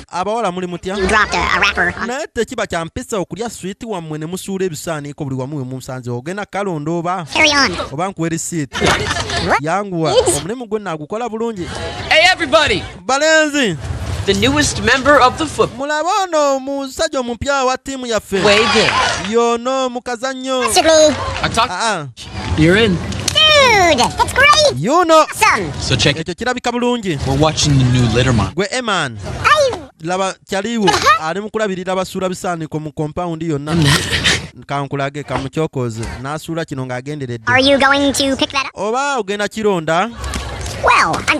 abawala muli mutya naye tekiba kya mpisa okulya switi wammwe ne musuula ebisaaniiko buli wamu we munsanze ogenda kalonda oba oba nkuwa erisiiti yanguwa omulimu gwe naagukola bulungi balenzi the newest member of the football. Mulaba ono musajja omupya wa tiimu yaffe. Wege. Yono mukazannyo. Sigli. Ah, ah. You're in. Dude, that's great. You know. Awesome. So check it. Kirabika bulungi. We're watching the new litter man. Gwe Eman. Laba kyaliwo uh-huh. ali mu kulabirira basuula bisaaniko mu compound yonna. Kankulage kamukyokoze n'asuula kino ng'agenderedde. Are you going to pick that up? Oba ogenda kironda? Well, I'm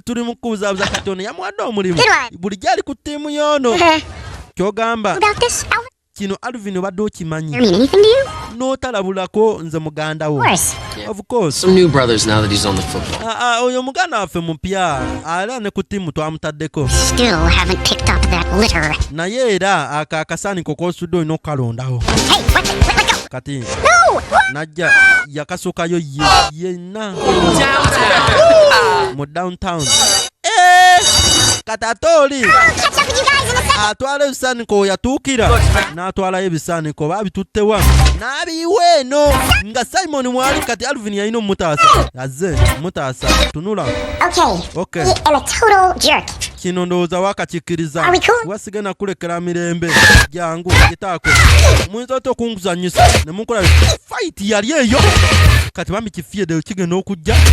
tuli mu kubuzabuza kati ono yamuwadde omulimu bulijjo ali ku ttiimu yoono kyogamba kino alvin obadde okimanyi n'otalabulako nze muganda wo oyo muganda waffe mupya ala ne ku ttiimu twamutaddeko naye era ako akasaaniko kosudde olina okukalondawo kati najja yakasukayo ye byonna mu downtown eh, kati ate oli atwala ebisaaniko weyatuukira n'atwalayo ebisaaniko oba abituttewa n'abiyiwa eno nga simoni mwali kati alvin yalina omumutaasa aze mutaasa tunula okay. okay. kino ndowooza wakakikkiriza wasiga nakulekera mirembe jangu gitaako muyinza otya okunguzanyisa ne munkola fayiti yali eyo kati bambi kifiyedde kigenda okujja